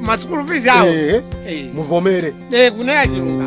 masukulu fees awo Eh, Eh, muvomere eh, kuna ya chilunga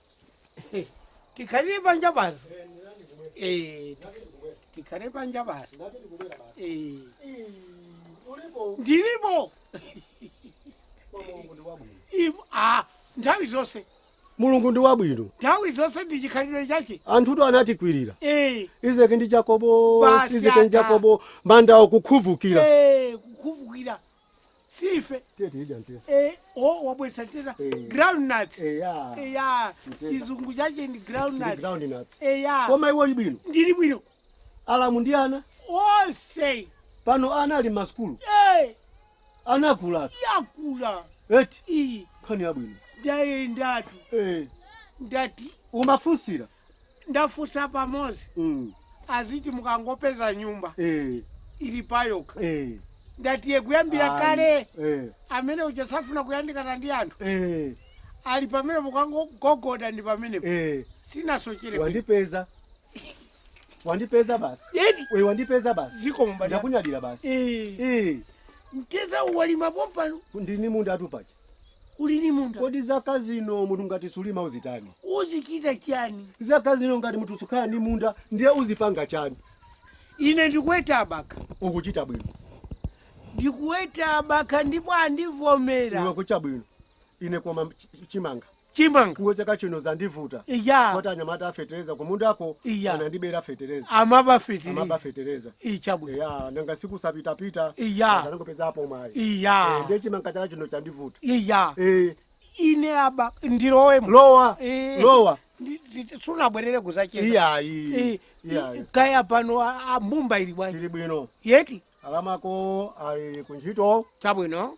tikhalire panja basi Eh, tikhale panja basi Eh, ulipo ndilipo kwa mulungu ndi wabwino Im- ah, nthawi zonse mulungu ndi wabwino nthawi zonse ndi chikhalidwe chake anthutu anatikwirira Eh, izeki ndi jakobo Basi izeki ndi ata. jakobo manda okukhuvukira Eh, kukhuvukira sife eh, oh, wabwesa mteza eh. groundnuts eya eh, yeah. chizungu chache ndi groundnuts groundnuts eya yeah. koma iwe uli bwino ndili bwino alamu ndi ana onse pano ana ali m'masukulu hey. anakula yakula eti iyi nkhani yabwino ndayendatu hey. ndati umafunsira ndafunsa pamozi mm. aziti mukangopeza nyumba eh. ili payokha eh. ndati iye kuyambira kale eh. amene uja safuna kuyandikana ndi anthu eh. ali pamene mukangogogoda ndi pamenepo eh. sinasochere wandipeza wandipeza basi we wandipeza basi zikomo mbale ndakunyadira basi eh. eh. mteza uwu walima pompano ndini munda atupache uli ni munda kodi zaka zino munthu ngati sulima uzitani uzichita chani zaka zino ngati munthu sukhala ni munda ndiye uzipanga chani ine ndikuweta abakha ukuchita bwino ndikuweta abakha ndipo andivomera iwe ukuchita bwino ine koma ch- chimanga chimanga iwe chaka chino zandivuta iya koti anyamata afetereza kumundako Iya. anandibera fetereza amaba fitiri amaba fetereza chabwino ya nanga si kusapitapita Iya. anangopezapo mwayi Eh, iya ndiye chimanga chaka chino chandivuta iya Eh, ine apa ndilowemo lowa Eh. lowa Ndi- ndi- sunabwerere kuzacheza iyayi Eh, iyayi i- kaya pano a- a mbumba ili bwanji ili bwino eti alamako ali kuntchito chabwino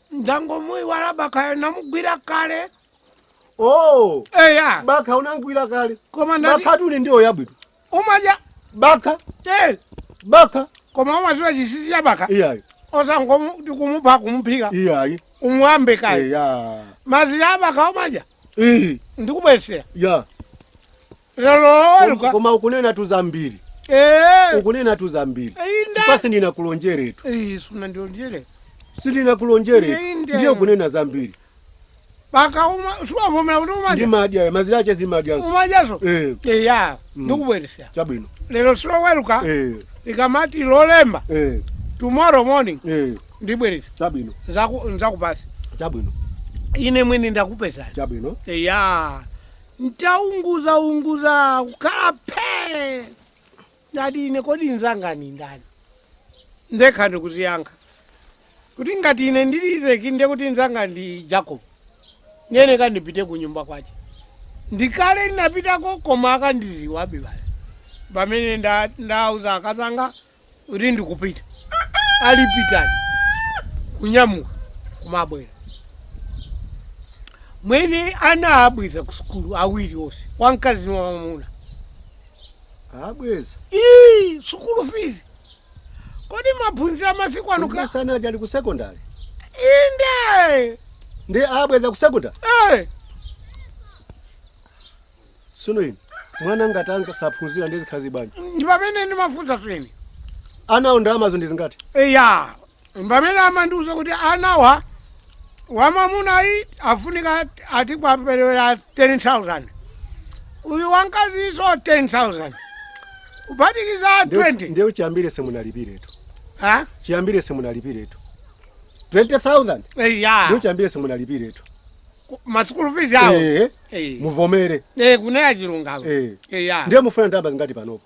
ndangomuiwala bakhayo namugwira kale oh eya bakha unamgwira kale koma ndati bakhatu ndi ndiwo yabwino umadya bakha eh, bakha koma umaziwa chisisi cha bakha iyayi osangomuti kumupha kumuphika iyayi umuwambe kale eya mazira abakha umadya iyi ndikubwesera ya Loweruka. koma ukunenatu zambiri Eh. ukunenatu zambiri Inde. chifukwa sindinakulonjeretu Eh, sunandilonjere. sindinakulonjeretu Inde. ndiye ukunena zambiri Bakha uma si wavomera kuti umadya. ndimadya ya mazira ache ndimadya Umadyaso. Eh, Eh ya. Mm. Ndikubweresera. chabwino Lero si Loweruka. Eh, Likamati lolemba eh, tomorrow morning eh, ndibweresa. chabwino Nzaku nzakupasa. chabwino Ine mwini ndakupeza. chabwino Eh ya. nditaunguzaunguza kukhala phee ndati ine kodi nzanga ni ndani ndekha ndikudziyankha kuti ngati ine ndili izeki ndiye kuti nzanga ndi jacob ndiye kandipite ku nyumba kwache ndi kale ndinapitako koma akandiziwabe bale pamene nda- ndauza akazanga kuti ndikupita alipitani kunyamuka kumabwera mwene ana abweza ku sukulu awiri onse wamkazi ni wamamuna abweza sukulu fees kodi maphunziro amasiku ano ka- sana ali ku secondary inde ndi abweza ku secondary sono ine mwana ngati wanga saphunzira ndizikhazi bwanji ndi pamene ndimafunsa mwene anawo ndalamazo ndi zingati eya pamene amandiuza kuti anawa wamamunayu afunika ati kwaperewera 10000 uyu wankaziso 10000 kuphatikiza 20 ndiye chiyambire simunalipiretu ha chiyambire simunalipiretu 20000 eya ndiye chiyambire simunalipiretu masukulu fees awo Eh, Eh. muvomere Eh, kunena chilungamo Eh. eya ndiye mufuna ndalama zingati panopa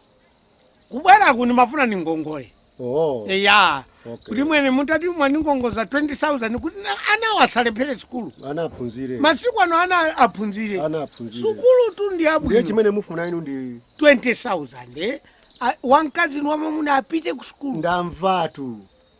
kubwera kuno ndimafuna ni ngongole oh. eya Okay. kuti mwene mutati mwandingongoza 20000 kuti na- anawa asalephere sukulu ana aphunzire masiku ano ana aphunzire ana aphunzire sukulutu ndi yabwino ndiye chimene mufuna inu ndi 20000 eh? A- wamkazi ni wamamuna apite ku sukulu ndamvatu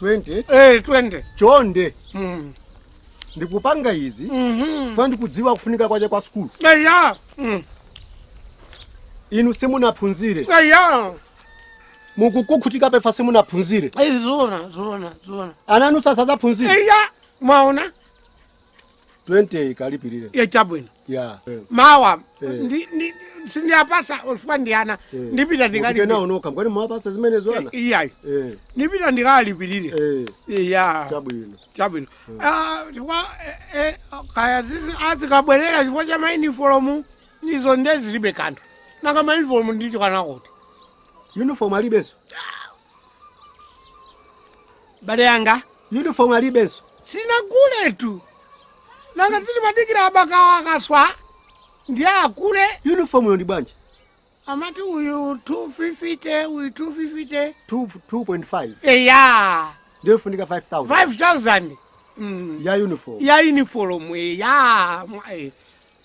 20 Eh, chonde Mm. ndikupanga izi Mhm. chifukwa ndikudziwa kufunika kwache kwa sukulu eya Mm. inu simunaphunzire eya mukuvutika chifukwa simunaphunzire Eh, zona zona zona ana anu sasa aziphunzire eya mwaona 20 kalipirire ya chabwino ya eh. mawa Eh. ndi- ndi- sindiwapasa chifukwa ndi ana Eh. ndipita Mupite ndikalipirire nawo nokha mukani mwapasa zimenezo ana iyayi Eh, ndipita ndikalipirire eh, iya chabwino chabwino Ah, chifukwa eh, eh, kaya zizi azikabwerera chifukwa cha mainifomu izo nde zilibe kanthu nanga mainifomu ndiye kuti uniform alibenso bale wanga uniform alibenso sinaguletu nanga zilimadikira abakawa akaswa ndiye agule uniformyo ndi bwanji amati uyu 250 uyu 250 Two- 2.5 eya ndiyo ifunika 5000 5000 mm. ya uniform ya uniform eya mwa- eh.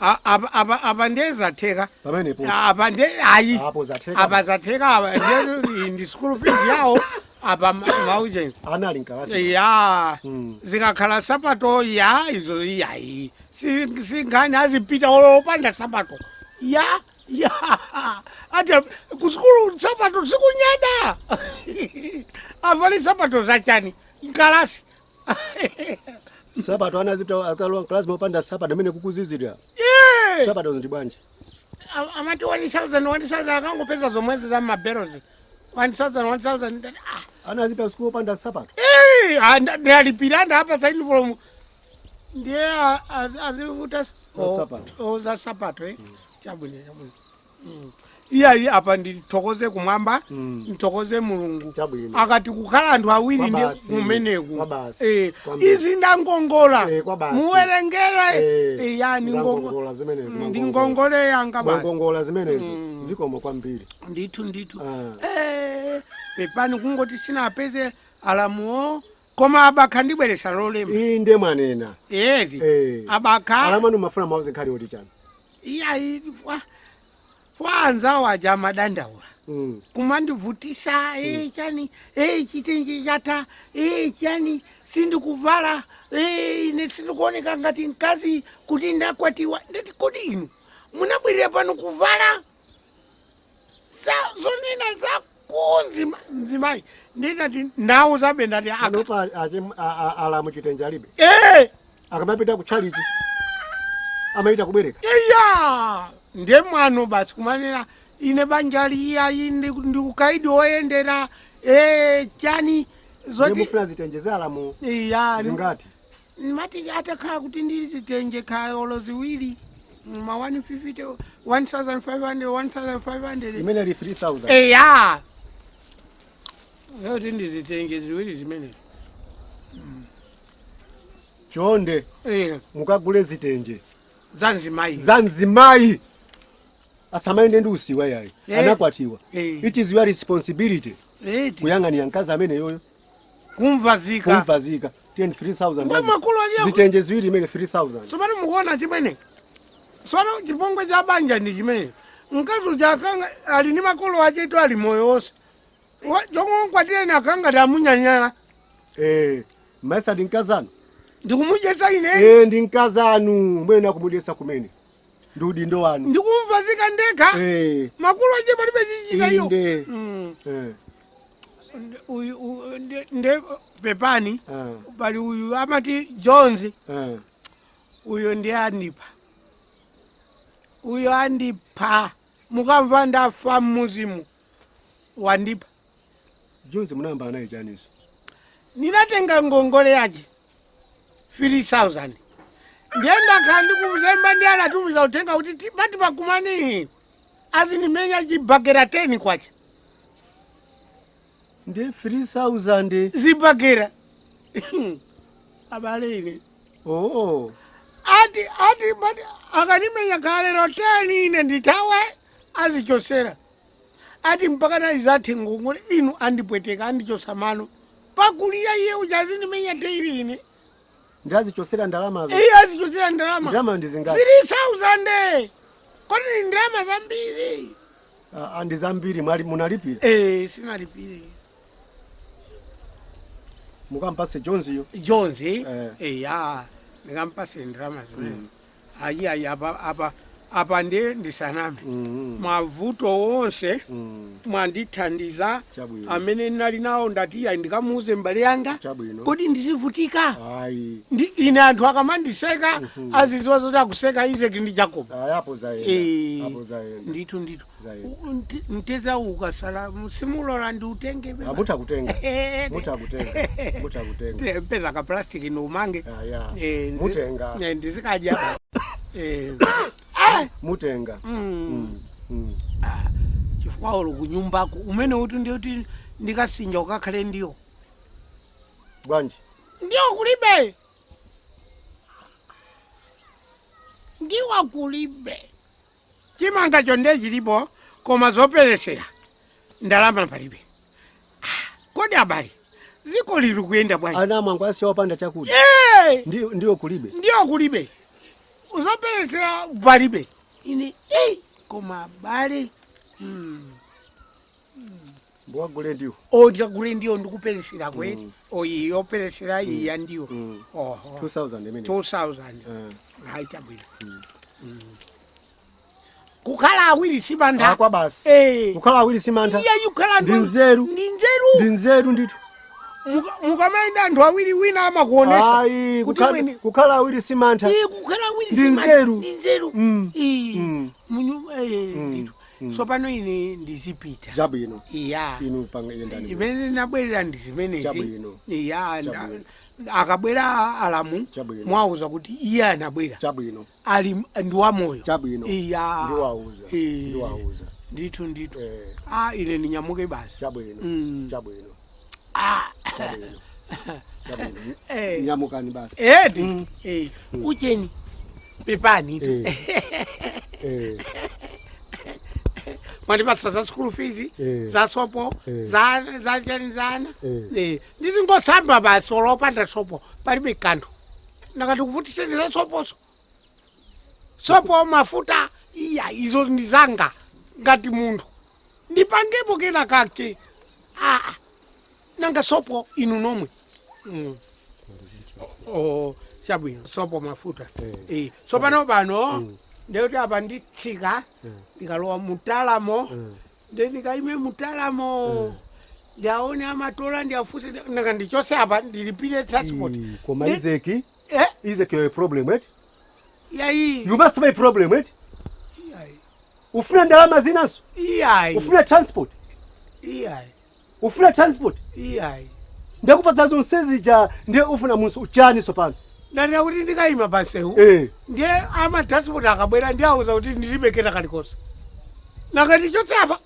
A- apa- apa- apa ndiye zatheka pamenepo A- apa ndiye ayi apo zatheka apa basi. zatheka apa ndiye ndi school fees yawo apa ma- maucheni ana ali m'kalasi ya Mm. zikakhala sapato ya izo yayi Si- si nkhani azipita olo opanda sapato ya ya ati kusukulu sapato sikunyada avale sapato zachani m'kalasi sapato ana azipita akalowa m'kalasi mopanda sapato mmene kukuzizira Eh! sapato ndi bwanji A- amati 1000 1000 akangopeza zomwezi za mabelozi 1000 1000 ndati, ah, ana azipita sukulu opanda sapato eh, ah, nda- ndalipira ndapa za uniform ndiye a- az- azivuta s- Za o- sapato. o, za sapato eh. chabwino chabwino iyayi apa ndithokoze kumwamba Mm. nthokoze mulungu Chabwino. akati kukhala anthu awiri ndi Kwabasi. kumeneku Kwabasi. Eh, Kwambiri. izi ndangongola Eh, kwabasi. muwerengere Eh, Eh, ya ndi ngongo- ndangongola zimenezo, ndi ndangongola. ngongole yanga basi Mwangongola zimenezo zikomo kwambiri. ndithu ndithu Ah. Eh, pepani kungoti sindinawapeze alamuwo koma abakha ndibweresa lolema inde mwanena eti Eh. abakha alamu anu mumafuna muwauze nkhani yoti chani iyayi ifa ifa anzawo aja amadandaula Mm. kumandivutisa ee chani ee chitenje chatha ee chani sindikuvala ee ine sindikuoneka ngati mkazi kuti ndakwatiwa ndati kodi inu munabwerera pano kuvala za zonena za kunja ma- mzimayi ndinati ndawauzabe ndati akapanopa achim- a- a- alamu chitenje alibe Eh, akamapita ku tchalitchi amachita kubwereka iya nde mwano basi kumanena ine banjali iyayi ndi ndi ukaidi woyendera eh, chani zoti mukufuna zitenje za alamu iya zingati mati atakhala kuti ndili ndi zitenje kaya olo ziwiri ma 150 1500 1500 imene ali 3000 eya yoti ndizitenge ziwiri zimenezi chonde Eh, mukagule zitenje za mzimayi za mzimayi asamayende ndi usiwa yayi Eh. anakwatiwa Eh. it is your responsibility eti kuyang'anira mkazi ameneyoyo kumvazika kumvazika 10 3000 Ngwa makulu aje- zitenje ziwiri imene 3000 tsopano mukuona chimene tsopano chipongwe cha banja ndi chimene mkazi uja akanakhala ali ndi makolo aketu ali moyo wonse Wa- chomwe mkwatireni akanangomunyanyala eh mayesa ndi mkazanu ndikumudyetsa ine eh ndi mkazanu mwene akumudyetsa kumene ndi udindo wanu ndikumvazika ndekha eh makolo ache palibe chochita iyo inde Mm. eh uyu u- nde- nde pepani Ah, pali uyu amati jones ah. uyo ndiye andipha uyo andipha mukamva ndafa mmuzimu wandipha jonzi munayambana naye chaninso ndinatenga ngongole yake 3000 ndiye ndakhala ndikumzemba ndiye anatumiza uthenga kuti ti- pati pakumani azindimenya chibakera 10 kwacha ndi 3000 zibakera abale ine oh ati ati mati akanimenya kalero 10 ine nditawe azichosera ati mpaka nayi zathe ngongole inu andipweteka andichosa mano pakudyira iye uja azindimenya teiri ine Ndi azichosera ndalamazo. Iye azichosera ndalama. Ndalama ndi zingati? 3000. Kodi ndi ndalama zambiri? Ah, ah, ndi zambiri mwali munalipire. Eh, sinnalipire. Mukampase Jones yo. Jones. Eh, eh ya. Ndikampase ndalama zimene. Mm. ayi ayi apa apa apa ndiye ndisaname Mm, mavuto onse mm, mwandithandiza Chabwino. amene ndinali nawo ndati iyayi ndikamuuze mbale yanga Chabwino. kodi ndizivutika ayi ndi ine anthu akamandiseka aziziwa zoti akuseka Isaki ndi Yakobo ayapo zayenda Eh, apo zayenda ndithu ndithu mteza ukasala simulola ndi utenge beba. Amuta kutenga. Eh, Muta kutenga. Muta kutenga. Te- peza ka plastic ni umange Ah, ya. Eh, ndi- Mutenga. eh, ndizikadya Eh, ah, Mutenga. mm, Mm. ah, chifukwa olo kunyumbako umene uti ndiwoti ndikasinja ukakhale ndiwo Bwanji. ndiwo kulibe ndiwo kulibe chimangacho nde chilipo koma zoperesera ndalama palibe Ah, kodi abale ziko lili kuyenda bwanji ana mwangowa asiya opanda chakudya Eh, Ndi- ndiwo kulibe ndiwo kulibe zoperesera palibe ine eh, koma abale hmm. Mukagule ndiwo. o ndikagule ndiwo ndikuperesera kwe Mm. o iyi yoperesera iyi ya ndiwo Mm. oho 2000 imene. 2000 Eh. hayi chabwino Mm. kukhala awiri simantha Akwa basi. Eh. Kukhala awiri simantha. iya kukhala Ndi nzeru. ndi nzeru Ndi nzeru ndithu. Muka- mukamayenda anthu awiri wina amakuonesa Ayi, kuti kukhala- mwini kukhala awiri simantha. iye kukhala awiri Ndi simantha. nzeru. ndi nzeru Mm. Iyi. Mm. Munyu- eh, Mm. ndithu. tsopano ine ndizipita chabwino iya inu panga yendani zimene nabwerera ndi zimenezi Chabwino. iya nda- Chabwino. akabwera alamu Chabwino. mwauza kuti iye anabwera chabwino ali ndi moyo chabwino iya ndiwauza Eh. ndiwauza ndithu ndithu Eh, a ine ndinyamuke basi chabwino Mm. chabwino Eh. nyamukani basi edi Eh, ucheni pepani tu Eh, mwandipatsa za school fees Eh. za sopo Eh. za za chani zana Eh. Eh, ndizingosamba basi olopanda sopo palibe kanthu nakati kuvutiseni za soposo sopo mafuta iya izo ndi zanga ngati munthu ndipangepo kena kake aa nanga sopo inu nomwe mm. oh, chabwino sopo mafuta eh. sopano pano mm. ndiye kuti apa nditsika mm. ndikalowa mutalamo mm. nde ndikaime mutalamo mm ndiaone amatola ndiafunse nanga ndichose apa ndilipire transport koma izeki Eh? Is it your problem, right? Yai. You must be a problem, right? Yai. Ufuna ndalama zinanso? Yai. Ufuna transport? Yai. Ufuna transport? Yai. Ndakupatsa zonse zija ndiye ufuna munsu chani sopano. Ndati kuti ndikaima pamsewu. Eh. Ndiye ama transport akabwera ndiauza kuti ndilibe kena kalikonse. Nakati chotsapa.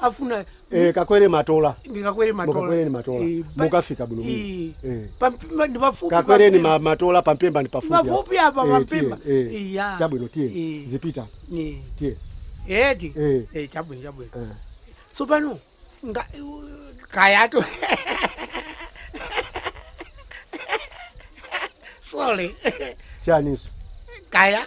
afuna eh, kakwere matola ndikakwere matola mukakwereni matola Eh, pa- mukafika bwino Eh, bwino. Eh. pa Mpemba ndi pafupi kakwereni pa ma- matola pampemba ndi pafupi apa. Pafupi apa Eh, pampemba. tiye, eh. Iya. chabwino tiye Eh. zipita Ni- tiye eti Eh. Eh, chabwino chabwino Eh. tsopano nga- kayato sorry chaninso kaya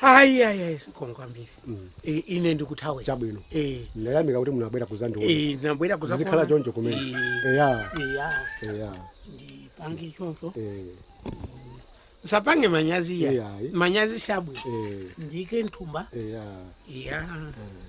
ayi ayi ayi sikoma kwambiri mm. e, ine ndikuthawe chabwino e. ndayamika kuti munabwera kuzandiona e, ndinabwera kuzakuona zikhala choncho kumene e. eya eya eya ndipange choncho e. usapange manyazi ya manyazi si abwino e. ndiike mthumba eya eya e.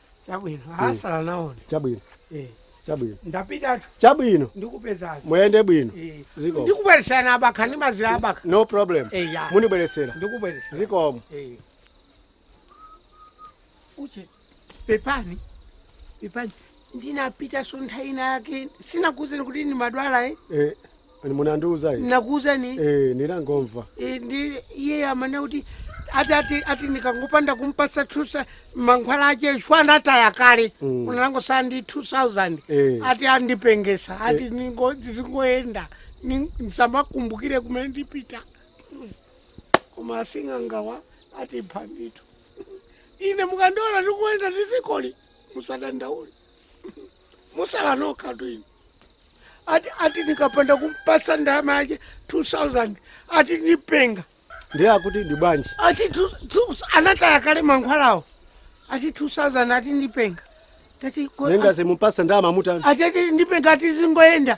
chabwino asala naona chabwino eh chabwino ndapitatu chabwino ndikupezani muyende bwino eh zikomo ndikubweresera abakha ndi mazira abakha no problem eh ya mundibweresera ndikubweresera zikomo eh uche pepani pepani ndinapita so nthawi ina yake sinakuuzeni kuti ndimadwala eh eh Ayi munandiuza ine. nakuuzani Eh, ninangomva. Eh, ndi iye amanena kuti ati ati ati ndikangopanda kumpasa two sauzande mankhwala ache chifukwa anataya kale Mm. unangosala ndi 2000 Eh. ati andipengesa ati ningo ndizingoyenda ni- ndisamakumbukire kumene ndipita koma asingangawa atimpha ndithu ine mukandiona ndikuyenda m'dzikoli musadandaule musala nokhatu inu ati ati ndikapanda kumpasa ndalama yake 2000 ati ndipenga ndiye akuti ndi bwanji ati tu- tu- anataya kale mankhwalawo ati 2000 ati ndipenga tati ko- nanga simumpasa ndalama mutani ati ndipenga ati zingoyenda